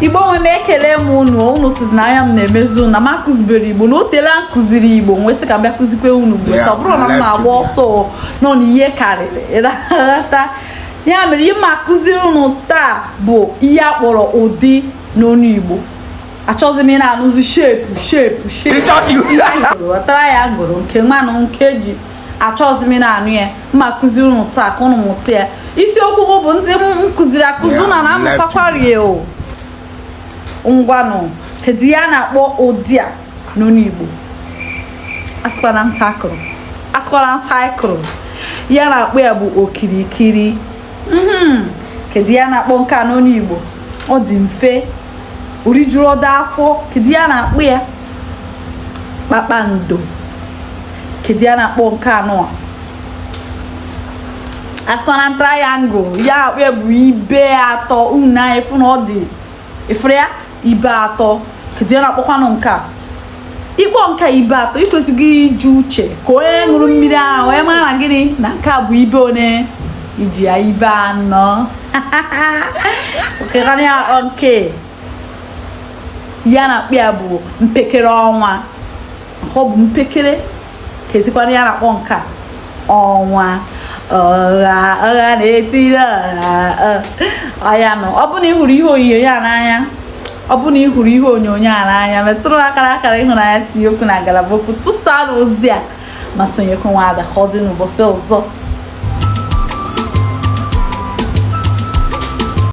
igbo nwe m ekele m unu unu sizi na anya m na-emezi unu na m akụzibere igbo na o teela m kụziri igbo m wee sị ka m bịa kụzikwe unu mgbe ọ bụrụ na m na-agba ọsọ nọ na ihe karịrị ịrata ya mere ihe m akụziri unu taa bụ ihe a kpọrọ ụdị n'onu igbo achọzi m ịna-anụzi shepu shepu shepu triangle nke mmanụ nke ji achọzi m ịna-anụ ya m akụziri unu taa ka unu mụta ya isiokwu m bụ ndị m kụziri akụzi na na-amụtakwarị ya o ngwanụ kedu ihe a na-akpọ ụdị a n'onu Igbo asịkwana circle ihe a na-akpọ ya bụ okirikiri mhm. kedu ihe a na-akpọ nke a n'onu Igbo ọ dị mfe orijuru ọdọ afọ kedu ihe a na-akpọ ya kpakpando kedu ihe a na-akpọ nke anọ asịkwana triangle ihe a na-akpọ ya bụ ibe atọ unu na-afụ na ọ dị efere ya ibe atọ kedu ihe a na-akpọkwanụ nke a ị kpọọ nke a ibe atọ i kwesịrị iji uche ka onye ṅụrụ mmiri ara wee mara gịnị na nke a bụ ibe one iji ya ibe anọ o kekwanụ ihe a na-akpọ nke ihe a na-akpọ ya bụ mpekere ọnwa ọ bụ mpekere kezikwanụ ihe a na-akpọ nke a ọnwa ọnwa na-etiri ọha oya nụ ọ bụrụ na ị hụrụ ihe onyonyo a n'anya ọ bụrụ na ị hụrụ ihe onyonyo a n'anya metụrụ akara akara ịhụnanya tinye okwu na ngalaba okwu tụsaa ozi a ma sonyekwa nwa ada ka ọ dị n'ụbọchị ọzọ